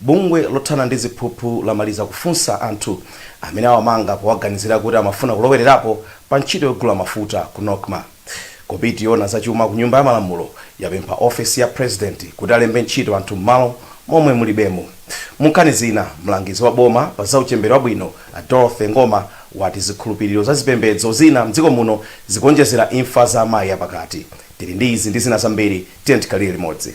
Bungwe lothana ndi ziphuphu lamaliza kufunsa anthu amene awamanga powaganizira kuti amafuna kulowererapo pa ntchito yogula mafuta ku Nocma. Komiti yoona za chuma ku Nyumba ya Malamulo yapempha ofesi ya Purezidenti kuti alembe ntchito anthu m'malo momwe mulibemo. Munkhani zina, mlangizi wa boma pa za uchembere wabwino a Dorothy Ngoma wati zikhulupiliro za zipembedzo zina m'dziko muno zikuonjezera imfa za amayi apakati. Tili ndi izi ndi zina zambiri, tiyeni tikhalire limodzi.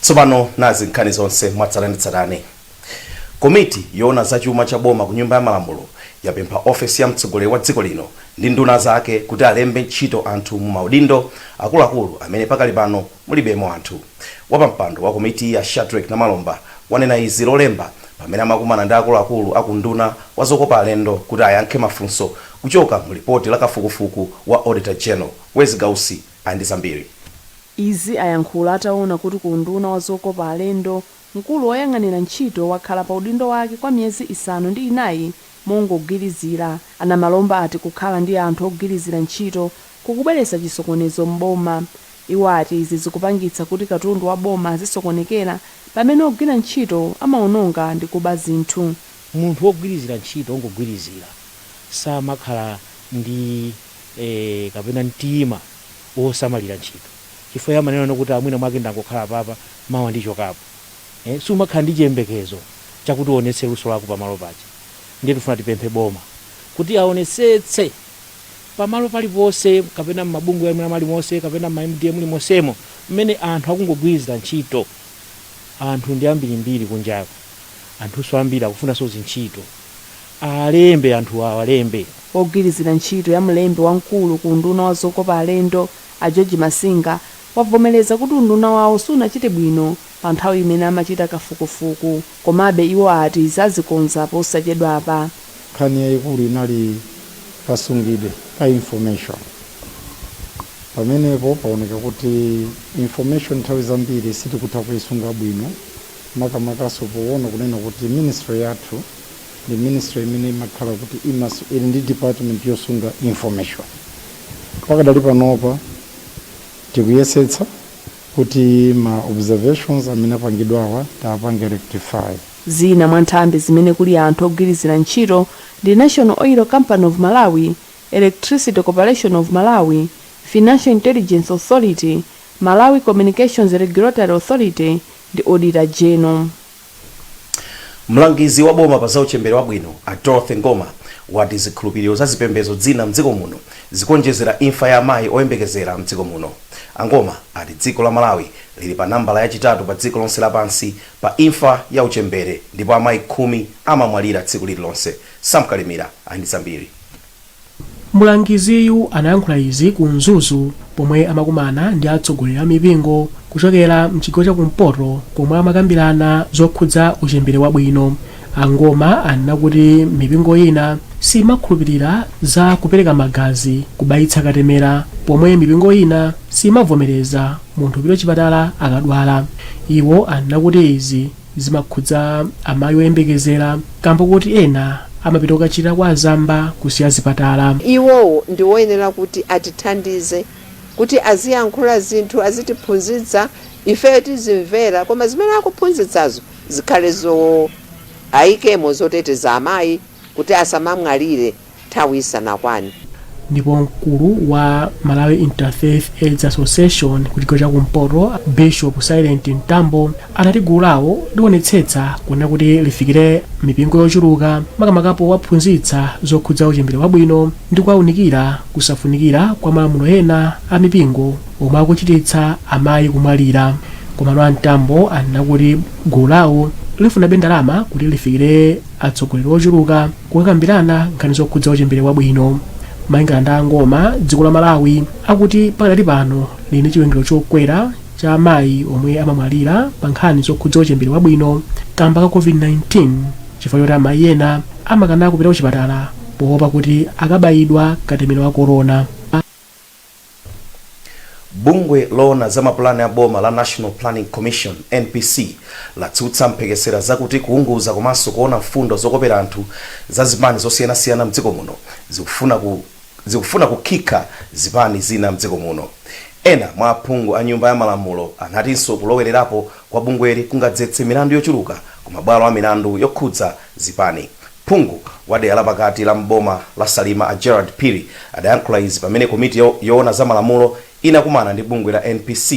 Tsopano nazi nkhani zonse mwatsatanetsatane. Komiti yoona za chuma cha boma ku Nyumba ya Malamulo yapempha ofesi ya mtsogoleri wa dziko lino ndi nduna zake kuti alembe ntchito anthu mu maudindo akuluakulu amene pakali pano mulibemo anthu. Wapampando wa komitiyi a Shadreck Namalomba wanena izi Lolemba pamene amakumana ndi akuluakulu a ku unduna wa zokopa alendo kuti ayankhe mafunso kuchoka mu lipoti la kafukufuku wa Auditor General. Wezi Gausi. ali ndi zambiri. Izi ayankhula ataona kuti ku unduna wa zokopa alendo, mkulu woyang'anira ntchito wakhala pa udindo wake kwa miyezi isanu ndi inayi mongogwirizira. A Namalomba ati kukhala ndi anthu ogwirizira ntchito kukubweretsa chisokonezo m'boma. Iwo ati izi zikupangitsa kuti katundu wa boma azisokonekera pamene ogwira ntchito amaononga ndi kuba zinthu. Munthu wogwirizira ntchito ongogwirizira samakhala ndi e Kapena mtima wosamalira ntchito chifukwa iye amanena kuti a mwina mwake ndangokhala apapa mawa ndichokapo e Sumakhala ndi chiyembekezo chakuti uonetse luso lako pamalo paja ndiye tifuna tipemphe boma kuti aonetsetse pamalo paliponse kapena mmabungwe mwina mwalimose kapena mma mda mulimonsemo mmene anthu akungogwirizira ntchito anthu ndi ambirimbiri kunjako anthunso ambiri akufunanso zintchito Alembe anthuwa awalembe. Wogwirizira ntchito ya mlembi wamkulu ku unduna wa zokopa alendo, a George Masinga, wavomereza kuti unduna wawo sunachite bwino pa nthawi imene amachita kafukufuku komabe iwo ati izi azikonza posachedwapa. Nkhani yaikulu inali kasungidwe ka information. Pamenepo paoneka kuti information nthawi zambiri sitikutha kuisunga bwino makamakanso poona kunena kuti ministry yathu, ndi ministry imene imakhala kuti imas ili ndi department yosunga information pakadali panopa tikuyesetsa kuti ma observations amene apangidwawa tiwapange rectify Zina mwa nthambi zimene kuli anthu ogwirizira ntchito ndi National Oil Company of Malawi, Electricity Corporation of Malawi, Financial Intelligence Authority, Malawi Communications Regulatory Authority ndi Auditor General. Mlangizi wa boma pa za uchembere wabwino, a Dorothy Ngoma, wati zikhulupiliro za zipembedzo zina mdziko muno zikuonjezera imfa ya amayi oyembekezera mdziko muno. A Ngoma ati dziko la Malawi liri pa nambala ya chitatu pa dziko lonse lapansi pa imfa ya uchembere ndipo amayi khumi amamwalira tsiku liri lonse. Sam Kalimira ali ndi zambiri. Mlangiziyu anayankhula izi ku Mzuzu pomwe amakumana ndi atsogoleri a mipingo kuchokera mchigawo cha kumpoto komwe amakambirana zokhudza uchembere wabwino. A Ngoma anena kuti mipingo ina siyimakhulupilira za kupereka magazi kubayitsa katemera pomwe mipingo ina siyimavomereza munthu kupita chipatala akadwala. Iwo anena kuti izi. zimakhudza amayi oyembekezera kamba koti ena amapita kukachira kwa azamba kusiya zipatala. Iwowo ndiwoyenera kuti atithandize kuti aziyankhula zinthu, azitiphunzitsa ifeyo tizimvera koma zimene akuphunzitsazo zikhale zo, ayikemo zoteteza amayi kuti asamamwalire nthawi isanakwane. Ndipo mkulu wa Malawi Interfaith Aids Association ku chigawo cha kumpoto Bishop Silent Mtambo anati gulu lawo liwonetsetsa kuona kuti lifikire mipingo yochuluka makamaka powaphunzitsa zokhudza uchembere wabwino ndi kuwaunikira kusafunikira kwa malamulo ena a mipingo omwe akuchititsa amayi kumwalira. Komano a Mtambo anena kuti gulu lawo lifunabe ndalama kuti lifikire atsogoleri ochuluka kukakambirana nkhani zokhudza uchembere wabwino malingana ndi a ngoma dziko la malawi akuti pakadali pano lili ndi chiwerengero chokwera cha amayi omwe amamwalira pa nkhani zokhudza uchembere wabwino kamba ka covid-19 chifukwa choti amayi ena amakana kupita kuchipatala poopa kuti akabayidwa katemera wa korona Bungwe loona za mapulani a boma la National Planning Commission, NPC, latsutsa mphekesera zakuti kuunguza komanso kuona mfundo zokopera anthu za zipani zosiyanasiyana mdziko muno zikufuna kukhikha zipani zina mdziko muno. Ena mwa aphungu a Nyumba ya Malamulo anatinso kulowererapo kwa bungweli kungadzetse milandu yochuluka ku mabwalo a milandu yokhudza zipani. Phungu wa dera la pakati la m'boma la Salima a Gerald Phiri adayankhula izi pamene komiti yoona za malamulo inakumana ndi bungwe la NPC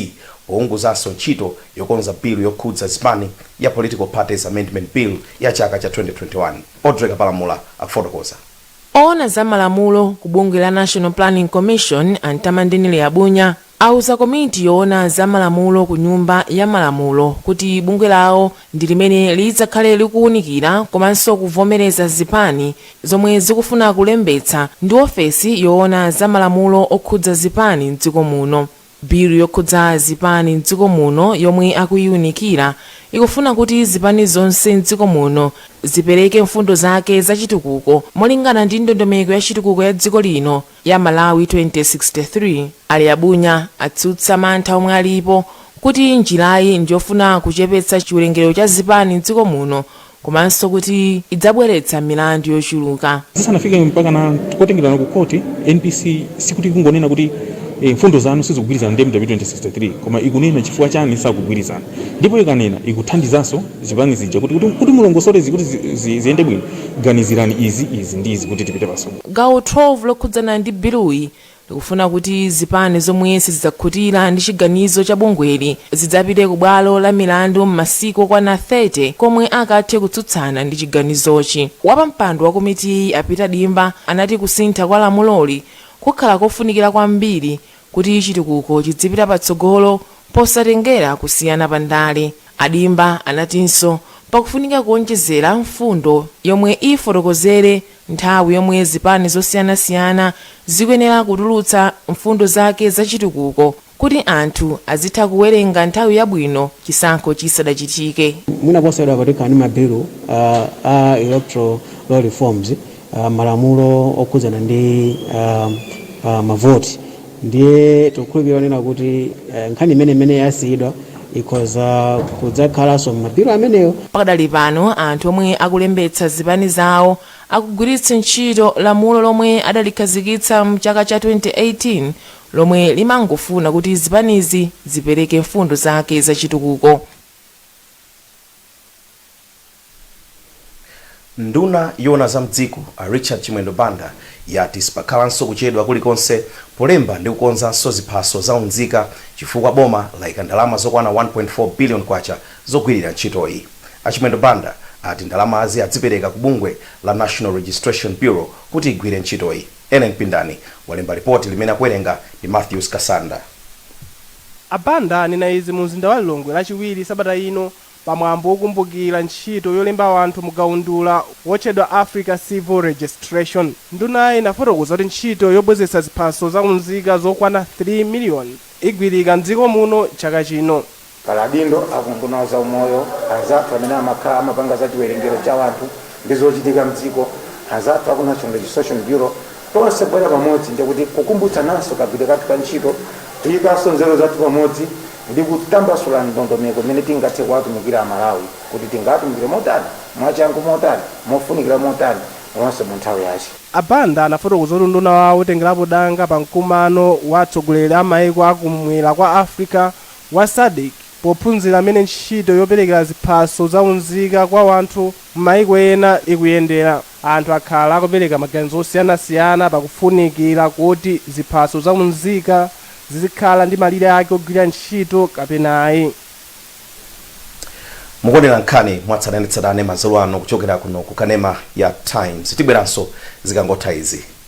pounguzanso ntchito yokonza bilu yokhudza zipani ya Political Parties Amendment Bill ya chaka cha 2021. Audrey Kapalamula akufotokoza. Owona za malamulo ku bungwe la National Planning Commission a Mtamandeni Liabunya, auza komiti yoona za malamulo ku Nyumba ya Malamulo kuti bungwe lawo ndi limene lidzakhale likuunikira komanso kuvomereza zipani zomwe zikufuna kulembetsa ndi ofesi yoona za malamulo okhudza zipani m'dziko muno. Bilu yokhudza zipani m'dziko muno yomwe akuiunikira ikufuna kuti zipani zonse m'dziko muno zipereke mfundo zake za chitukuko molingana ndi ndondomeko ya chitukuko ya dziko lino, ya Malawi 2063, a Liabunya atsutsa mantha omwe alipo kuti njirayi ndiyofuna kuchepetsa chiwerengero cha zipani m'dziko muno komanso kuti idzabweretsa milandu yochuluka. Zisanafike mpakana kotengerana ku court, NPC sikuti ikungonena kuti mfundo zanu sizikugwirizana ndi MW2063 koma ikunena chifukwa chani sizikugwirizana ndipo ikanena ikuthandizaso zipani zija kuti kuti mulongosole izi kuti ziyende bwino ganizirani izi, izi ndi izi kuti tipite patsogolo. Gawo 12 lokhudzana ndi biluyi likufuna kuti zipani zomwe sizidzakhutira ndi chiganizo cha bungweli zidzapite ku bwalo la milandu m'masiku okwana 30 komwe akathe kutsutsana ndi chiganizochi. Wapampando wa komitiyi a Peter Dimba anati kusintha kwa lamuloli kukhala kofunikira kwambiri kuti chitukuko chidzipita patsogolo posatengera kusiyana pa ndale. A Dimba anatinso pakufunika kuonjezera mfundo yomwe ifotokozere Nthawi yomwe zipani zosiyanasiyana zikuyenera kutulutsa mfundo zake za chitukuko kuti anthu azitha kuwerenga nthawi yabwino chisankho chisadachitike. Mwina posachedwa apa tikhala ndi ma bilu a electoral law reforms, malamulo okhudzana ndi ma voti. ndiye tikukhulupirira kunena kuti eh, nkhani imene imene yasiyidwa ikhoza kudzakhalanso m'mabilu amenewo pakadali pano anthu omwe akulembetsa zipani zawo akugwiritsa ntchito lamulo lomwe adalikhazikitsa mchaka cha 2018 lomwe limangofuna kuti zipanizi zipereke mfundo zake zachitukuko Nduna yoona za m'dziko, a Richard Chimwendo Banda, yati sipakhalanso kuchedwa kulikonse polemba ndi kukonzanso ziphaso za unzika chifukwa boma laika ndalama zokwana K1.4 billion zogwirira ntchitoyi. A Chimwendo Banda ati ndalamazi azipereka ku bungwe la National Registration Bureau kuti igwire ntchitoyi. Ellen Pindani walemba lipoti limene akuwerenga ndi Mathews Kasanda. A Banda anena izi mu mzinda wa Lilongwe lachiwiri sabata ino pa mwambo wokumbukira ntchito yolemba anthu mu kaundula wotchedwa Africa Civil Registration. Ndunayi inafotokoza kuti ntchito yobwezetsa ziphaso za unzika zokwana 3 million igwirika m'dziko muno chaka chino. Pali adindo a ku unduna wa zaumoyo, anzathu amene amakhala amapanga za chiwerengero cha anthu ndi zochitika m'dziko, anzathu a ku National Registration Bureau, tonse kubwera pamodzi ndi kuti kukumbutsananso kagwiridwe kathu ka ntchito, kuyikanso nzeru zathu pamodzi ndi kutambasula ndondomeko imene tingathe kuwatumikira a Malawi kuti tingatumikire motani, mwachangu motani, mofunikira motani komanso mu nthawi yache. A Banda anafotokoza kuti unduna wawo utengerapo danga pa mkumano wa atsogoleri a maiko a ku m'mwera kwa Africa wa Sadc pophunzira m'mene ntchito yoperekera ziphaso za unzika kwa wanthu m'maiko ena ikuyendera. Anthu akhala akupereka maganizo osiyanasiyana pa kufunikira kuti ziphaso za unzika zizikhala ndi malire ake ogwirira ntchito kapena ayi. Mukuonera nkhani mwatsatanetsatane madzulo ano kuchokera kuno ku kanema ya Times. Tibweranso zikangotha izi.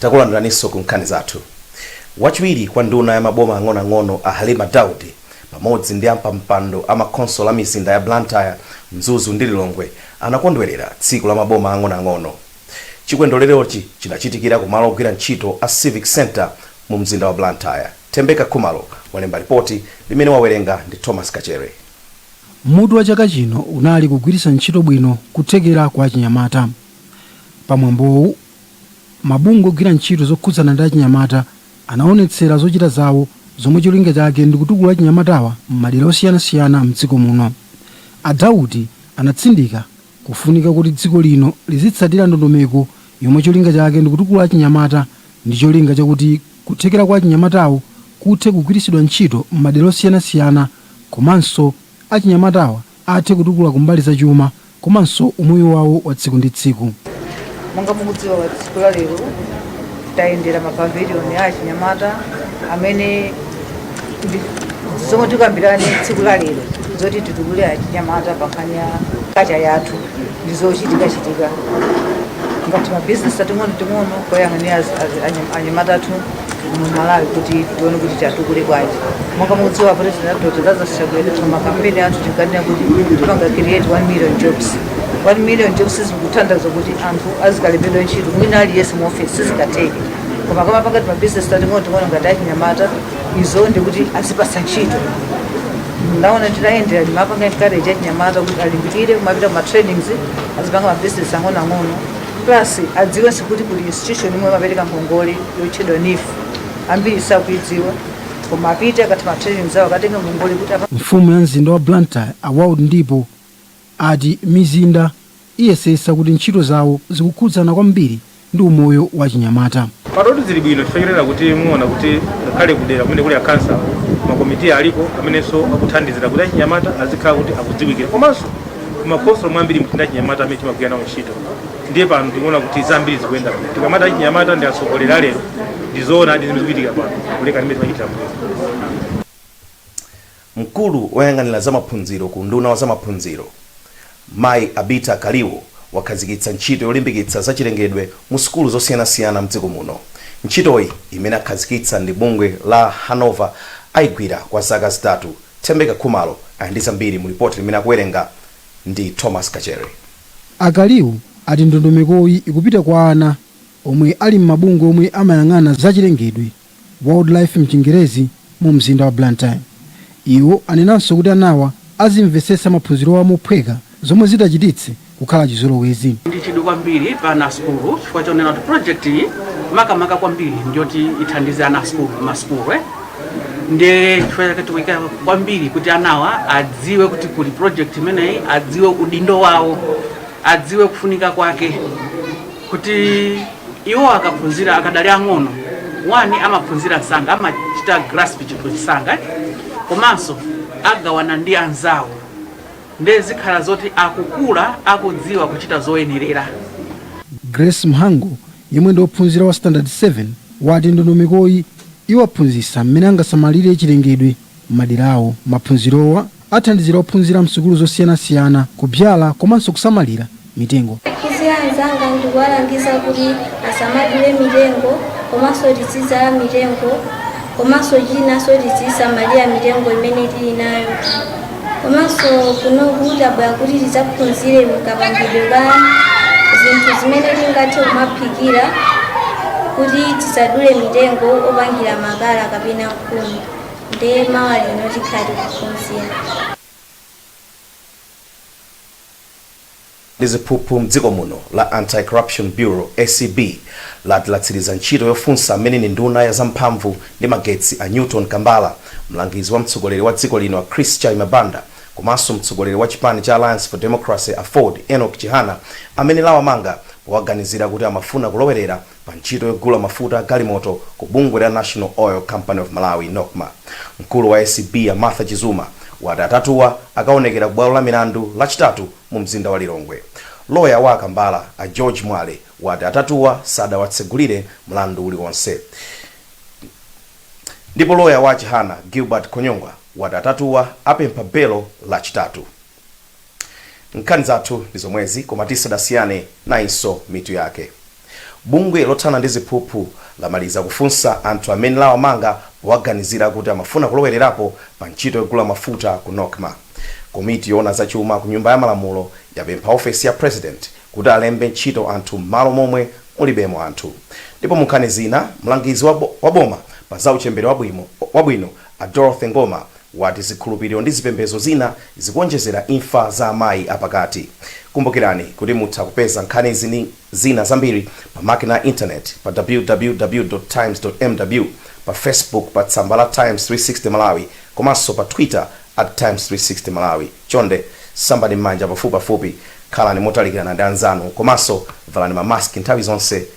Takulandiraninso ku nkhani zathu. Wachiwiri kwa nduna ya maboma ang'onoang'ono a Halima Daudi pamodzi ndi ampampando a makhonsolo a mizinda ya Blantyre, Mzuzu ndi Lilongwe anakondwerera tsiku la maboma ang'onoang'ono. Chikondwererochi chinachitikira ku malo ogwira ntchito a Civic Centre mu mzinda wa Blantyre. Thembeka Khumalo walemba lipoti limene wawerenga ndi Thomas Kachere. Mutu wa chaka chino unali Kugwiritsa Ntchito Bwino Kuthekera kwa Achinyamata. Pa mwambowu, mabungwe ogwira ntchito zokhudzana ndi achinyamata anawonetsera zochita zawo zomwe cholinga chake ndi kutukula achinyamatawa m'madera osiyanasiyana m'dziko muno. A Daudi anatsindika kufunika kuti dziko lino lizitsatira ndondomeko yomwe cholinga chake ndi kutukula achinyamata ndi cholinga chakuti kuthekera kwa achinyamatawo kuthe kugwiritsidwa ntchito m'madera osiyanasiyana komanso achinyamatawa athe kutukula kumbali za chuma komanso umoyo wawo wa tsiku ndi tsiku. Monga mukudziwa pa tsiku la lero tayendera ma pavilion a achinyamata amene zomwe tikambirane tsiku la lero zoti titukule achinyamata pa nkhani ya kacha yathu ndi zochitikachitika ngati mabizinesi ating'onoting'ono kuyang'anira anyamata athu mu malawi kuti tione kuti atukule bwanji monga mukudziwa kuti president Dr. Lazarus Chakwera pa makampeni athu tinkanena kuti tipanga create 1 million jobs 1 million jobs sikutanthauza kuti anthu azikalembedwa ntchito mwina aliyense mu office sizikatheke koma kumapanga timabusiness tating'ono ting'ono ngati achinyamata izo ndiye kuti azipasa ntchito ndaona nditayendera ndimapanga encourage achinyamata kuti alimbikire kumapita kuma trainings azipanga ma business ang'onoang'ono Plus adziwenso kuti kuli institution imene imapereka ngongole yotchedwa NEEF ambiri sakuidziwa koma apite akatha ma training zawo akatenga ngongole kuti Mfumu ya mzinda wa Blantyre a Wild Ndipo ati mizinda iyesetsa kuti ntchito zawo zikukhudzana kwambiri ndi umoyo wa achinyamata. Panotu zili bwino chifukwa chonena kuti muona kuti ngakhale kudera kumene kuli akhansala makomitiyi aliko amenenso akuthandizira kuti achinyamata azikhala kuti akudziwikira komanso makhonsolo mwambiri muli achinyamata amene timagwira nawo ntchito ndiye pano tikuona kuti zambiri zikuyenda bwino tikamati achinyamata ndi atsogoleri alero ndizoona ndi zimene zikuchitika pano kulekana ndi mmene timachitira mbuyo mkulu woyang'anira za maphunziro ku unduna wa za maphunziro mayi evita kaliwo wakhazikitsa ntchito yolimbikitsa zachilengedwe mu sukulu zosiyanasiyana mdziko muno ntchitoyi imene akhazikitsa ndi bungwe la hanover ayigwira kwa zaka zitatu Thembeka Khumalo ali ndi zambiri mu lipoti limene akuwerenga ndi Thomas Kachere. A Kaliwo ati ndondomekoyi ikupita kwa ana omwe ali m'mabungwe omwe amayang'ana za chilengedwe, wildlife m'chingerezi, mu mzinda wa Blantyre. Iwo anenanso kuti anawa azimvetsetsa maphunzirowa mophweka zomwe zitachititse kukhala chizolowezi. ndi chidwi kwambiri pa ana a sukulu chifukwa chonena kuti project iyi makamaka kwambiri ndiyoti ithandize ana a sukulu ma sukulu eh. ndiye chifukwa chake tikuika kwambiri kuti anawa adziwe kuti kuli project imeneyi adziwe udindo wawo adziwe kufunika kwake kuti iwo akaphunzira akadali ang'ono wani amaphunzira msanga amachita grasp chinthu msanga eh. komanso agawana ndi anzawo Ndiye zikhala zoti akukula akudziwa kuchita zoyenerera. Grace Mhango, yemwe ndi ophunzira wa standard 7, wati ndondomekoyi iwaphunzitsa mmene angasamalire chilengedwe mmadera awo. Maphunzirowa athandizira ophunzira msukulu zosiyanasiyana kubyala komanso kusamalira mitengo. Ndikauza anzanga ndikuwalangiza kuti asamadule mitengo komanso tizidzala mitengo komanso chinanso tizisamalira mitengo imene tili nayo komanso kunoku tabwera kuti tidzaphunzire kapangidwe ka zinthu zimene tingathe kumaphikira kuti tisadule mitengo opangira makala kapena nkhuni ndiye mawa lino tikhala tikuphunzira ndi ziphuphu mdziko muno la Anti-Corruption Bureau, acb, lati latsiriza ntchito yofunsa amene ndi nduna ya za mphamvu ndi magetsi a Newton Kambala, mlangizi wa mtsogoleri wa dziko lino a Chris Chaima Banda komanso mtsogoleri wa chipani cha Alliance for Democracy aford, Enock Chihana amene lawamanga powaganizira kuti amafuna kulowerera pa ntchito yogula mafuta agalimoto ku bungwe la National Oil Company of Malawi, Nocma. Mkulu wa ACB a Martha Chizuma wati atatuwa akaonekera ku bwalo la milandu Lachitatu mu mzinda wa Lilongwe. Loya wa a Kambala a George Mwale wati atatuwa sadawatsegulire mlandu uliwonse ndipo loya wa a Chihana, Gilbert Khonyongwa wati atatuwa apempha belo Lachitatu. Nkhani zathu ndizomwezi koma tisadasiyane nayinso mitu yake. Bungwe lothana ndi ziphuphu lamaliza kufunsa anthu amene lawamanga powaganizira kuti amafuna kulowererapo pa ntchito yogula mafuta ku Nocma. Komiti yoona za chuma ku Nyumba ya Malamulo yapempha ofesi ya President kuti alembe ntchito anthu m'malo momwe mulibemo anthu. Ndipo munkhani zina, mlangizi wa boma pa za uchembere wabwino, a Dorothy Ngoma wati zikhulupiriro ndi zipembedzo zina zikuonjezera imfa za amayi apakati. Kumbukirani kuti mutha kupeza nkhanizi ndi zina zambiri pa makina a intaneti pa www.times.mw, pa Facebook pa tsamba la Times 360 Malawi komanso pa Twitter at Times 360 Malawi. Chonde sambani m'manja pafupipafupi, khalani motalikirana ndi anzanu komanso valani ma mask nthawi zonse.